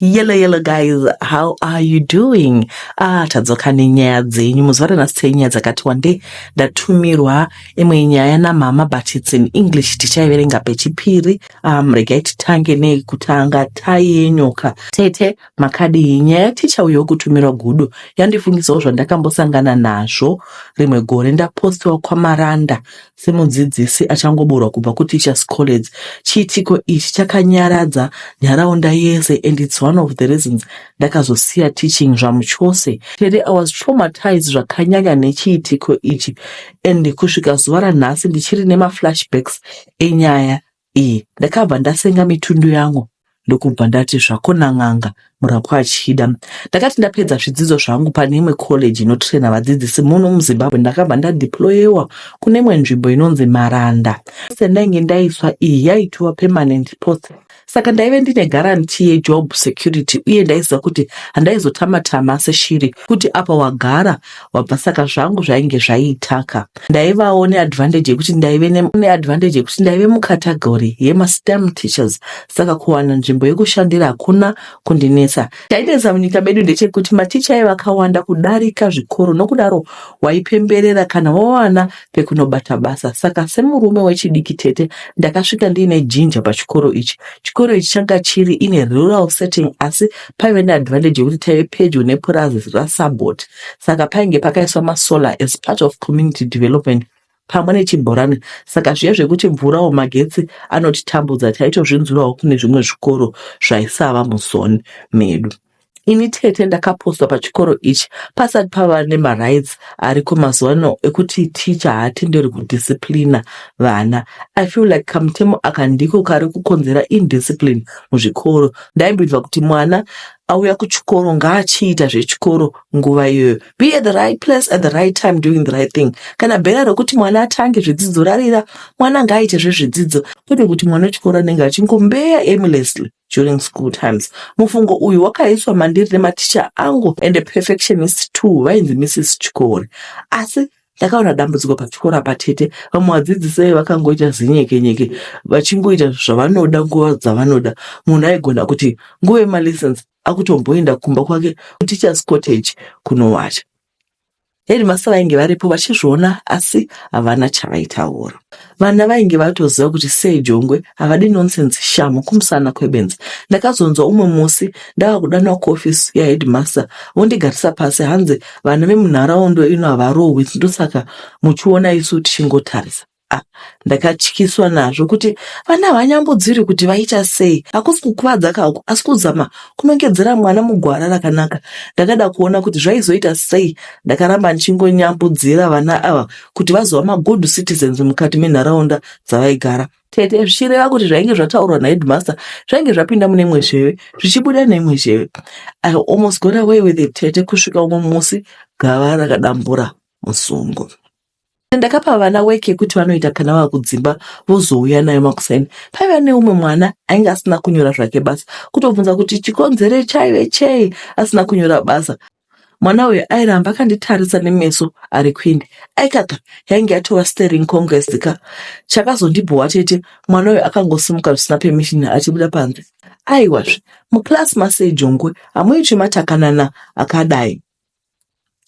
Yellow yellow guys, how are you doing? Ah, tadzoka nenyaya dzenyu muzuva ranhasi tei nyaya dzakati wande ndatumirwa imwe nyaya namama but it's in English tichaiverenga pechipiri. Um, regai titange nei kutanga tai yenyoka. Tete makadii nyaya yaticha uyo kutumirwa gudo yandifungisawo zvandakambosangana nazvo rimwe gore ndapostiwa kwamaranda Semudzidzisi achangoburwa kubva kuTeachers College, chiitiko ichi chakanyaradza nharaunda yese and it's one of the reasons ndakazosiya teaching zvamuchose. Tere, I was traumatized zvakanyanya nechiitiko ichi and kusvika zuva ranhasi ndichiri nemaflashbacks enyaya iyi ndakabva ndasenga mitundu yangu ndokubva ndati zvakona n'anga murapwa achida ndakati ndapedza zvidzidzo zvangu pane imwe college inotraina vadzidzisi muno muzimbabwe ndakabva ndadeployewa kune imwe nzvimbo inonzi maranda se ndainge ndaiswa iyi yaitiwa permanent post saka ndaive ndine garanti yejob security uye ndaiziva kuti handaizotamatama seshiri kuti apa wagara wabva saka zvangu zvainge zvaitaka ndaivawo neadvantage yekuti ndaive neadvantage yekuti ndaive mucategory yemastem teachers saka kuwana nzvimbo yekushandira hakuna kundinetsa chainetsa munyika medu ndechekuti maticha aivakawanda kudarika zvikoro nokudaro waipemberera kana wawana pekunobata basa saka semurume wechidiki tete ndakasvika ndiine jinja pachikoro ichi chikoro ichi changa chiri ine rural setting asi paive neadvantage yekuti taive pedyo nepurazi rasabot saka painge pakaiswa masolar as part of community development pamwe nechibhorani saka zviya zvekuti mvurawo magetsi anotitambudza taitozvinzwirawo kune zvimwe zvikoro zvaisava muzoni medu Ini tete ndakapostwa pachikoro ichi pasati pava nemarights ariko mazuva ano ekuti teacher haatenderwi kudisciplina vana. I feel like kamutemo aka ndiko kari kukonzera indiscipline muzvikoro. Ndaibhivha kuti mwana auya kuchikoro ngaachiita zvechikoro nguva iyoyo. Be at the right place at the right time doing the right thing. Kana bhera rokuti mwana atange zvidzidzo rarira, mwana ngaaite zvezvidzidzo kwete kuti mwana wechikoro anenge achingombeya aimlessly. during school times. Mufungo uyu wakaiswa mandiri nematicha angu and a perfectionist too vainzi Mrs Chikore. Asi ndakaona dambudziko pachikora patete vamwe vadzidzisi vaive vakangoita zinyekenyeke vachingoita zvavanoda nguva dzavanoda. Munhu aigona kuti nguva yemalessons akutomboenda kumba kwake kuteachers cottage kunowata. Headmaster vainge varipo vachizviona asi havana chavaitaura. Vana vainge vatoziva kuti sei jongwe havadi nonsense shamu kumusana kwebenzi. Ndakazonzwa umwe musi ndava kudanwa kuoffice yaheadmaster vondigarisa pasi hanzi vana vemunharaunda ino havarohwi ndosaka muchiona isu tichingotarisa. Ah, ndakatyiswa nazvo kuti vana havanyambodziri kuti vaita sei hakusi kukuvadza kako asi kuzama kunongedzera mwana mugwara rakanaka ndakada kuona kuti zvaizoita sei ndakaramba ndichingonyambudzira vana ava kuti vazova magood citizens mukati menharaunda dzavaigara tete zvichireva kuti zvainge zvataurwa naheadmaster zvainge zvapinda mune imwe zheve zvichibuda neimwe zheve i almost got away with it tete kusvika umwe musi gava rakadambura musungo Ndakapa vana weki yekuti vanoita kana vava kudzimba vozouya nayo makuseni. Paiva neumwe mwana ainge asina kunyora zvake basa, kutobvunza kuti chikonzero chaive chei asina kunyora basa. Mwana uyu airamba akanditarisa nemeso ari kwindi. Aikaka yainge yatova staring congress ka. Chakazondibhowa chete mwana uyu akangosimuka zvisina permission achibuda panze. Aiwazve, muclass masei jongwe, hamuitwi matakanana akadai.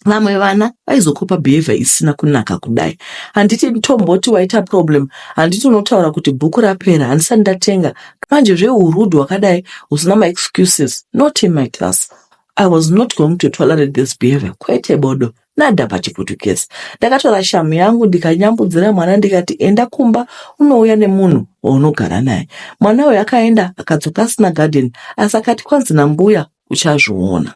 vamwe vana vaizokopa behavior isina kunaka kudai handiti tomboti waita problem handiti unotaura kuti bhuku rapera handisati ndatenga manje zveurud wakadai usina maexcuses not in my class i was not going to tolerate this behavior kwete bodo nada pachiputukezi ndakatora shamu yangu ndikanyambudzira mwana ndikati enda kumba unouya nemunhu waunogara naye mwana uyo akaenda akadzoka asina garden asi akati kwanzi nambuya uchazviona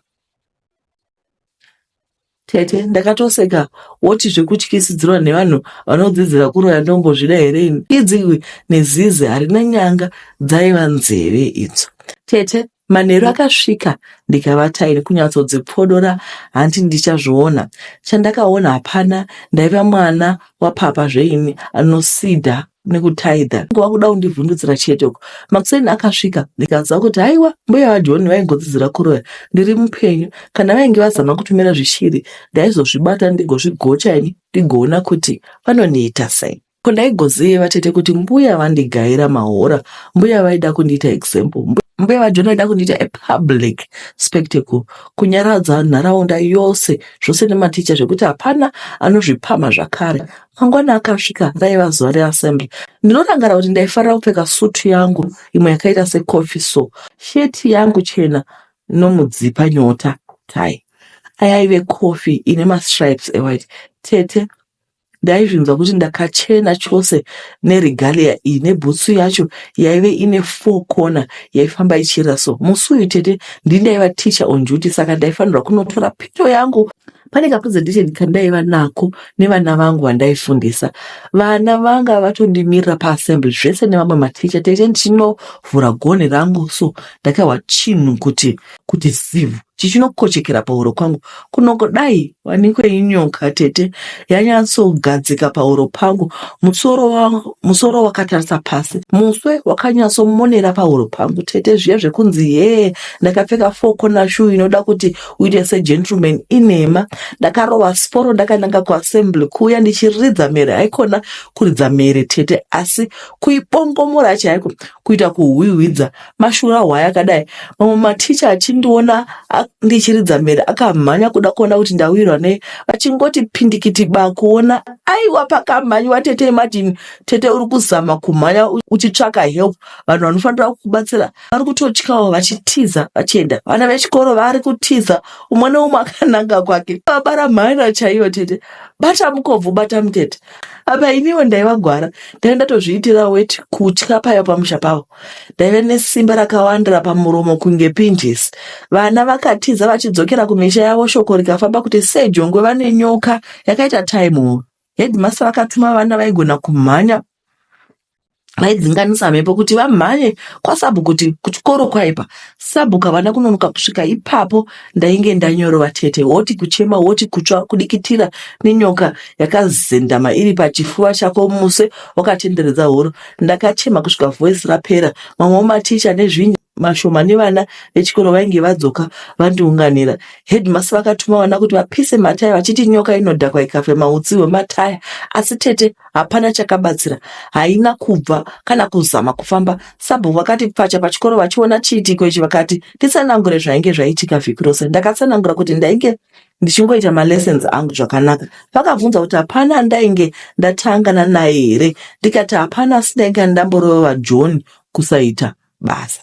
Tete ndakatoseka woti zvekutyisidzirwa nevanhu vanodzidzira kuroya ndombozvida here ini idzi iwe nezizi harina nyanga dzaiva nzeve idzo tete manheru akasvika ndikavata ini kunyatsodzipfodora hanti ndichazviona chandakaona hapana ndaiva mwana wapapa zveini anosidha nekutaidha ngova kuda kundivhundutsira chete uko makuseni akasvika ndikaziva kuti haiwa mbuya vajoni vaingodzidzira kuroya ndiri mupenyu kana vainge vazama kutumira zvishiri ndaizozvibata ndigozvigocha ini ndigoona kuti vanoniita sei ko ndaigoziva tete kuti mbuya vandigaira mahora mbuya vaida kundiita example mbuya vajoni vaida kundiita apublic spectacle kunyaradza nharaunda yose zvose nematicha zvekuti hapana anozvipama zvakare Mangwana akasvika raiva zuva reassembly. Ndinorangarira kuti ndaifarira kupfeka sutu yangu imwe yakaita secoffee so, sheti yangu chena nomudzipa nyota, tie ayaive coffee ine mastripes ewhite. Tete ndaizvinzwa kuti ndakachena chose neregalia iyi nebhutsu yacho yaive ine four corner yaifamba ichiyera so. Musi uyu tete ndini ndaiva teacher on duty saka ndaifanirwa kunotora pito yangu. Pane kapresentation kandaiva nako nevana vangu vandaifundisa, vana vanga vatondimirira paassembly zvese nevamwe maticha tete ndichinovhura gonhi rangu so ndakahwa chinhu kuti kuti zivhu chichinokochekera pahuro kwangu kunoko dai wanikwe inyoka tete yanyatsogadzika pahuro pangu musoro wangu musoro wakatarisa pasi muswe wakanyatsomonera pahuro pangu tete zviya zvekunzi hee ndakapfeka foko nashu inoda kuti kuita segentleman inhema ndakarova sporo ndakananga kuassembly kuuya ndichiridza mhere haikona kuridza mhere tete asi kuibongomora chaiko kuita kuhwihwidza mashura hwaya akadai mamwe maticha achindiona ndichiridza mhere akamhanya kuda kuona kuti ndawirwa nei vachingoti pindikiti ba kuona aiwa pakamhanyiwa tete imadini tete uri kuzama kumhanya uchitsvaka help vanhu vanofanira kukubatsira vari kutotyawo vachitiza vachienda vana vechikoro vari kutiza umwe neumwe akananga kwake vabara mhaira chaiyo tete bata mukobvu bata mutete apa iniwo ndaivagwara ndaive ndatozviitira weti kutya paiva pamusha pavo ndaive nesimba rakawandira pamuromo kunge pinjisi vana vakatiza vachidzokera kumisha yavo shoko rikafamba kuti sejongwe vane nyoka yakaita taimova Headmaster vakatuma vana vaigona kumhanya vaidzinganisa mhepo kuti vamhanye kwasabu kuti kuchikoro kwaipa sabu kavana kunonoka kusvika ipapo ndainge ndanyorova tete woti kuchema woti kutsva kudikitira nenyoka yakazendama iri pachifuva chako muse wakatenderedza horo ndakachema kusvika voice rapera mamwe maticha nezvinyi mashomani vana vechikoro vainge vadzoka vandiunganira. Headmaster vakatuma vana kuti vapise mataya vachiti nyoka inodhakwa ikafema utsi hwemataya, asi tete hapana chakabatsira, haina kubva kana kuzama kufamba. Sabhuku vakati pfacha pachikoro vachiona chiitiko ichi vakati nditsanangure zvainge zvaitika vhiki rose. Ndakatsanangura kuti ndainge ndichingoita malessons angu zvakanaka. Vakabvunza kuti hapana andainge ndatangana naye here ndikati hapana, asi ndainge ndamborova John kusaita basa.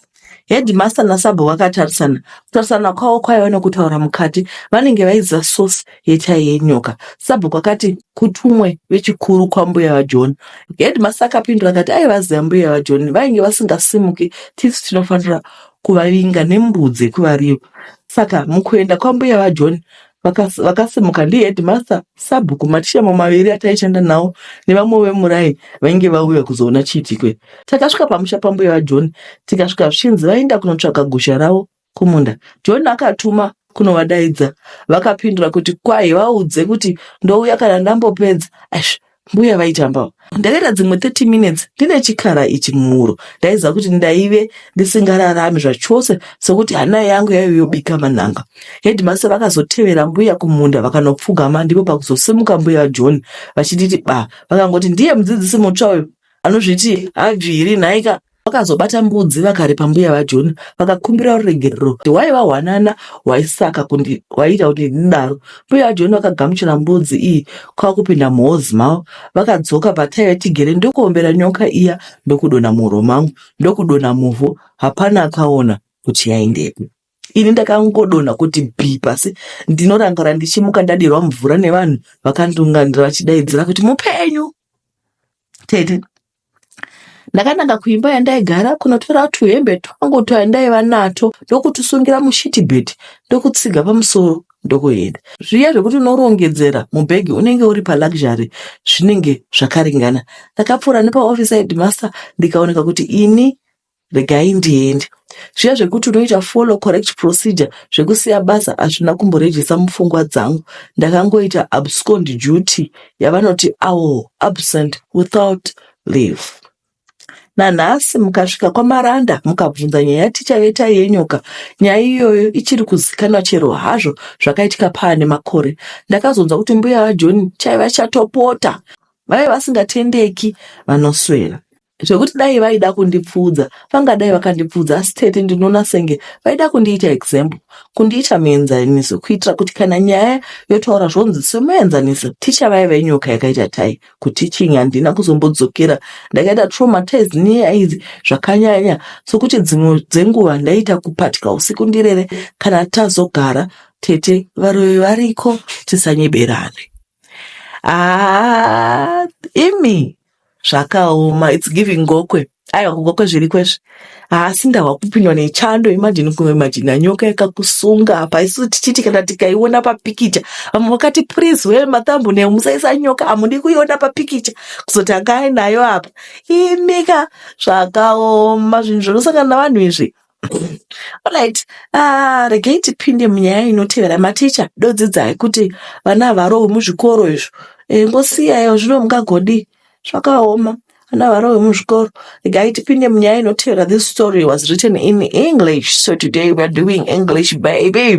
Headmaster nasabhu vakatarisana. Kutarisana kwavo kwaiva nekutaura mukati. Vanenge vaiziva source yechayi yenyoka. Sabhu kwakati kutumwe vechikuru kwambuya vaJohn. Headmaster akapindura akati aivaziva mbuya vaJohn vainge vasingasimuki tisu tinofanira kuvavinga nembudzi yekuvariva. Saka mukuenda kwambuya vaJohn Vakas- vakasimuka ndiheadmaster sabhuku matishamo maviri ataishanda nawo nevamwe vemurai vainge vauya kuzoona chiitikwe takasvika pamusha pambuya vajohn tikasvika zvichinzi vaenda kunotsvaga gusha ravo kumunda john akatuma kunovadaidza vakapindura kuti kwahi vaudze kuti ndouya kana ndambopedza Eish, Mbuya vaitamba ndakaita dzimwe 30 minutes ndine chikara ichi muhuro ndaiziva kuti ndaive ndisingararami zvachose sokuti hana yangu yaive yobika manhanga. Headmaster vakazotevera mbuya kumunda vakanopfugama ndipo pakuzosimuka mbuya vaJohn vachinditi ba vakangoti ndiye mudzidzisi mutsva uyu anozviti hadzviri nhaika vakazobata mbudzi vakaripa mbuya vajoni vakakumbira ruregerero kuti waiva hwanana hwaisaka kuti ndidaro mbuya vajoni vakagamuchira mbudzi iyi kwakupinda muhozi mavo vakadzoka pataiva tigere ndokuombera nyoka iya ndokudona muhuro mangu ndokudona muvhu hapana akaona kuti yaindepi ini ndakangodona kuti bhi pasi ndinorangara ndichimuka ndadirwa mvura nevanhu vakandunganira vachidaidzira kuti mupenyu tete ndakananga kuimba yandaigara kunotora tuhembe twangu twandaiva nato ndokutusungira mushiti bheti ndokutsiga pamusoro ndokuenda zviya zvekuti unorongedzera mubhegi unenge uri paluxury zvinenge zvakaringana ndakapfuura nepaoffice yahedmaster ndikaoneka kuti ini regai ndiende. Zviya zvekuti unoita follow correct procedure zvekusiya basa hazvina kumborejesa mupfungwa dzangu. Ndakangoita abscond duty yavanoti awo absent without leave. Nanhasi mukasvika kwaMaranda mukabvunza nyaya tichave taiyenyuka. Nyaya iyoyo ichiri kuzikanwa chero hazvo zvakaitika paane makore. Ndakazonzwa kuti mbuya vaJoni chaiva chatopota vaive vasingatendeki vanoswera. zvekuti dai vaida kundipfuudza vangadai vakandipfuudza asi tete ndinoona senge vaida kundiita example kundiita muenzaniso kuitira kuti kana nyaya yotaura zvonzi semuenzaniso ticha vaiva inyoka yakaita tai kuteaching handina kuzombodzokera ndakaita traumatized nenyaya idzi zvakanyanya sokuti dzimwe dzenguva ndaiita kupatya usiku ndirere kana tazogara tete varoyi variko tisanyeberane Ah, imi zvakaoma its giving gokwe aiwa kugokwe zviri kwezvi haasi ndahwa kupindwa nechando imajini kuimajina nyoka yakakusunga apa isu tichiti kana tikaiona papikicha vamwe vakati please we matambu ne musaisa nyoka hamudi kuiona papikicha kuzoti anga ainayo apa imika zvakaoma zvinhu zvinosangana navanhu izvi Alright, ah, regei tipinde munyaya inotevera maticha dodzidzai kuti vana havarohwi muzvikoro izvo e, ngosiyayo zvino mungagodii zvakaoma vana havarohwi muzvikoro regai tipinde munyaya inotevera this story was written in english so today weare doing english baby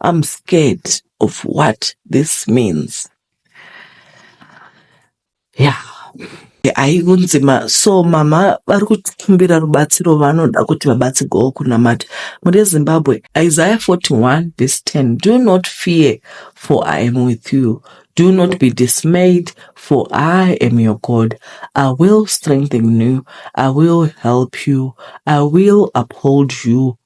I'm scared of what this means. Yeah. aikunzi ma so mama vari kukumbira rubatsiro vanoda kuti vabatsirwawo kunamata mune zimbabwe isaiah 41 verse 10 do not fear for i am with you do not be dismayed for i am your god i will strengthen you i will help you i will uphold you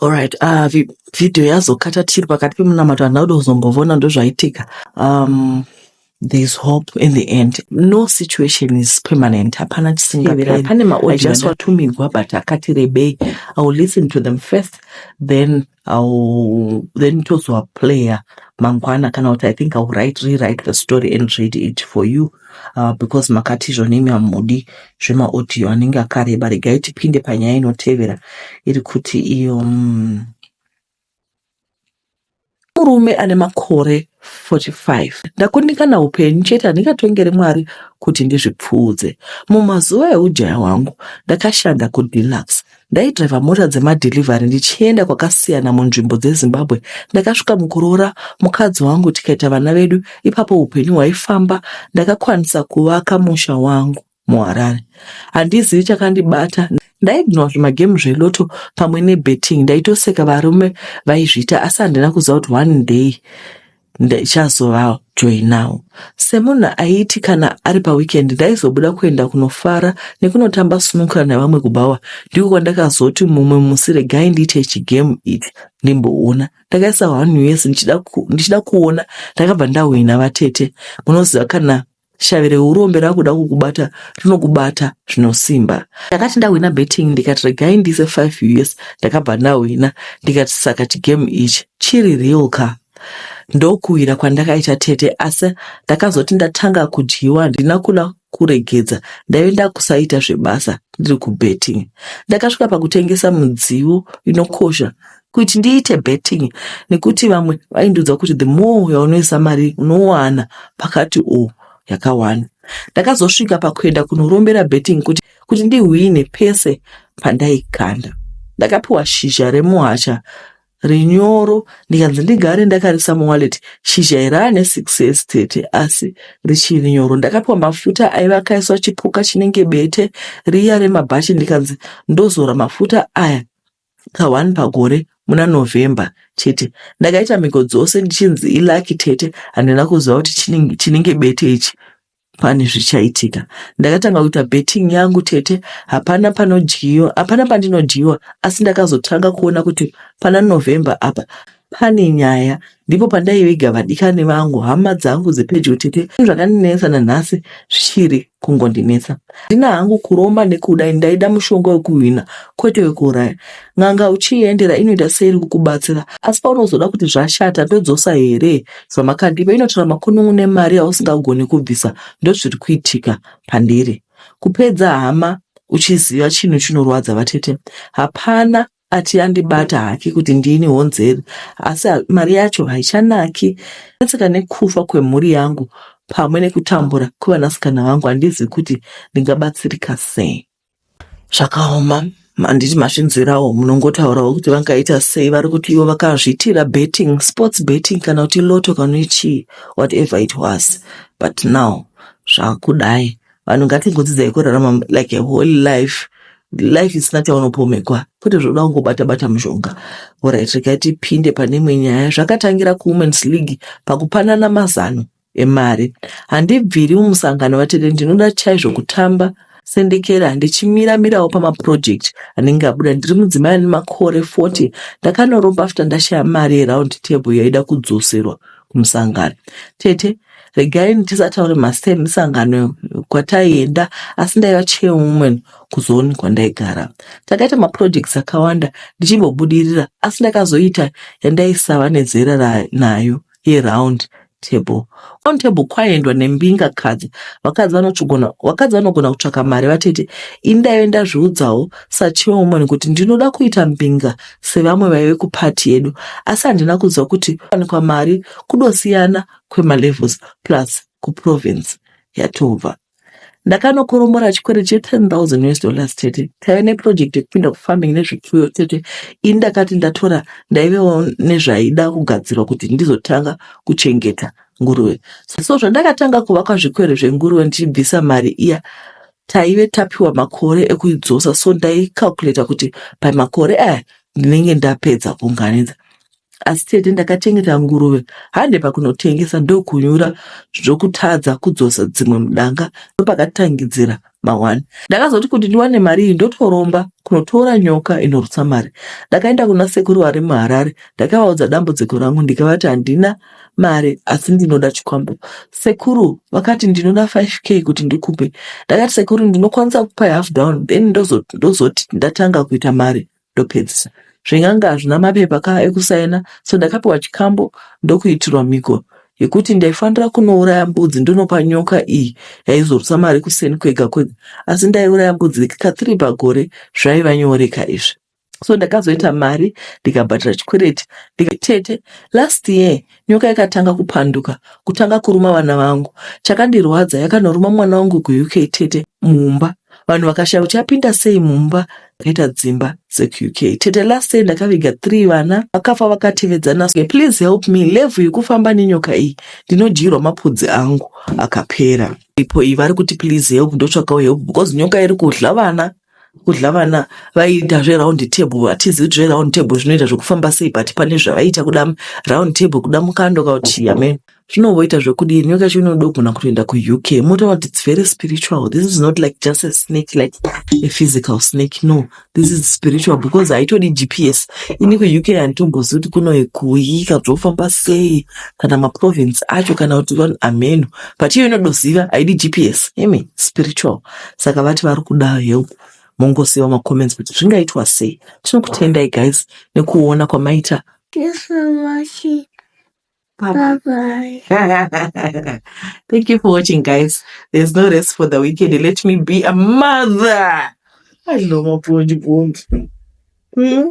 Alright, uh, vi- video yazokata tiri pakati pemunamato handina kuda kuzombovona ndozvaitika um, there's hope in the end no situation is permanent hapana Tevera, chisingaperi pane i maaudio just anda- watumigwa but akati rebei i will listen to them first then I'll then tozowa player mangwana kana kuti i think iwill write rewrite the story and read it for you uh, because makati izvo nemi hamudi zvemaaudio anenge akareba regai tipinde panyaya inotevera iri kuti iyo mm, murume ane makore 45 ndakundikana upenyu chete handingatongere mwari kuti ndizvipfuudze mumazuva eujaya hwangu ndakashanda kudeluxe Ndaidriver mota dzemadelivery ndichienda kwakasiyana munzvimbo dzeZimbabwe. Ndakasvika mukuroora mukadzi wangu tikaita vana vedu, ipapo upenyu hwaifamba. Ndakakwanisa kuvaka musha wangu muHarare. Handizivi chakandibata. Ndaidhinwa zvimagemu zveloto pamwe nebetting. Ndaitoseka varume vaizviita asi handina kuziva kuti one day Ndichazovawo joinawo semunhu aiti kana ari paweekend ndaizobuda kuenda kunofara nekunotamba snooker nevamwe kubhawa. Ndiko kwandakazoti mumwe musi regai ndiite chigame ichi ndimboona. Ndakaisa one us ndichida, ku, ndichida kuona ndakabva ndahwina vatete. Munoziva kana shavi reurombe rakuda kukubata rinokubata zvinosimba ndakati ndahwina betting ndikati regai ndiise 5 us ndakabva ndahwina ndikati saka chigame ichi chiri real ka ndokuwira kwandakaita tete asi ndakazoti ndatanga kudyiwa handina kuda kuregedza ndaive ndakusaita zvebasa ndiri kubetting ndakasvika pakutengesa mudziyo inokosha kuti ndiite betting nekuti vamwe vaindiudza kuti the more yaunoisa mari unowana pakati o yakawanda ndakazosvika pakuenda kunorombera betting kuti kuti ndihwine pese pandaikanda ndakapiwa shizha remuhasha rinyoro ndikanzi ndigare ndakarisa muwaleti shizha irane six years tete asi richiri nyoro ndakapiwa mafuta aiva akaiswa chipuka chinenge bete riya remabhachi ndikanzi ndozora mafuta aya Ka one pagore muna November chete. Ndakaita mhiko dzose ndichinzi i lucky tete handina kuziva kuti chinenge chinenge bete ichi pane zvichaitika. Ndakatanga kuita betting yangu tete hapana panodyiwa hapana pandinodyiwa asi ndakazotanga kuona kuti pana November apa Pane nyaya ndipo pandaiviga vadikani vangu hama dzangu dzepedyo tete zvakandinetsa nanhasi zvichiri kungondinetsa ndina hangu kuromba nekuda ini ndaida mushonga wekuhwina kwete wekuuraya n'anga uchiiendera inoita seiri kukubatsira asi paunozoda kuti zvashata ndodzosa here zvamakandipa inotora makunun'u nemari yausingagoni kubvisa ndozviri kuitika pandiri kupedza hama uchiziva chinhu chinorwadza vatete hapana ati yandibata haki kuti ndini honzeri asi mari yacho haichanaki netsika nekufa kwemhuri yangu pamwe nekutambura kwevanasikana vangu handizivi kuti ndingabatsirika sei zvakaoma handiti mazvinzwirawo munongotaurawo kuti vangaita sei vari kuti ivo vakazviitira betting sports betting kana kuti loto kana chii whatever it was but now zvakudai vanhu ngatingodzidzai kurarama like a whole life life isina chaunopomekwa kwete zvoda kungobata bata mushonga orit regai tipinde pane imwe nyaya zvakatangira kuwomens league pakupanana mazano emari handibviri mumusangano vatete ndinoda chaizvo kutamba sendekera ndichimiramirawo pamaproject anenge abuda ndiri mudzimai ane makore 40 ndakanoromba after ndashaya mari yeround table yaida kudzoserwa kumusangano tete regai ndisataure mazita emisangano kwataienda asi ndaiva chairwoman kuzooni kwandaigara takaita maprojects akawanda ndichimbobudirira asi ndakazoita yandaisava nezera nayo yeround table on table kwaendwa nembinga kadzi vakadzi vanotogona vakadzi vanogona kutsvaka mari vatete ini ndaive ndazviudzawo sachairwoman kuti ndinoda kuita mbinga sevamwe vaive kuparty yedu asi handina kunzwa kuti wanikwa mari kudosiyana kwemalevels plus kuprovince yatobva ndakanokoromora chikwere che10,000 us dollars tete taive neproject yekupinda kufarming nezvipfuyo tete ini ndakati ndatora ndaivewo nezvaida kugadzirwa kuti ndizotanga kuchengeta nguruve so zvandakatanga kuvakwa zvikwere zvenguruve ndichibvisa mari iya Taive tapiwa makore ekuidzosa so ndaicalculator kuti by makore aya ndinenge ndapedza kuunganidza asi tete ndakachengeta nguruve hande pakunotengesa ndokunyura zvokutadza kudzosa dzimwe mudanga ndopakatangidzira mawani ndakazoti kuti ndiwane mari iyi ndotoromba kunotora nyoka inorutsa mari ndakaenda kuna sekuru vari muharare ndakavaudza dambudziko rangu ndikavati handina mari asi ndinoda chikwambo. Sekuru vakati ndinoda 5k kuti ndikupe. Ndakati sekuru ndinokwanisa kukupa half down then ndozoti ndozo ndatanga kuita mari ndopedzisa. Zvenganga hazvina mapepa ka ekusaina so ndakapiwa chikambo ndokuitirwa mhiko yekuti ndaifanira kunouraya mbudzi ndonopa nyoka iyi yaizorutsa mari kuseni kwega kwega asi ndaiuraya mbudzi ka three pagore zvaiva nyoreka izvi. so ndakazoita mari ndikabhadhara chikwereti tete last year nyoka yakatanga kupanduka kutanga kuruma vana vangu chakandirwadza yakanoruma mwana wangu kuuk tete mumba vanhu vakashaya kuti yapinda sei mumba akaita dzimba dzekuuk tete last year ndakaviga three vana vakafa vakatevedzana please help me level yekufamba nenyoka iyi ndinodyirwa mapudzi angu akapera ipo iyi vari kuti please help ndotsvakawo help because nyoka iri kudla vana kudla vana vaiita zveround table hatizivi kuti zveround table zvinoita zvekufamba sei but pane zvavaiita kuda round table kuda mukando kauti amen zvinomboita zvekudii nyoka yacho inoda kugona kutoenda kuuk motoona kuti its very spiritual this is not like just a snake like a physical snake no this is spiritual because haitodi gps ini kuuk handitombozivi kuti kuno kuyi kabzofamba sei kana maprovince acho kana kuti vanhu ameno but iyo inodoziva haidi gps imi spiritual saka vati vari kuda help mongosiiwa macomments kuti zvingaitwa sei tinokutendai guys nekuona kwamaita Bye bye. Thank you for watching, guys. There's no rest for the weekend. Let me be a mother. I know my point. Hmm?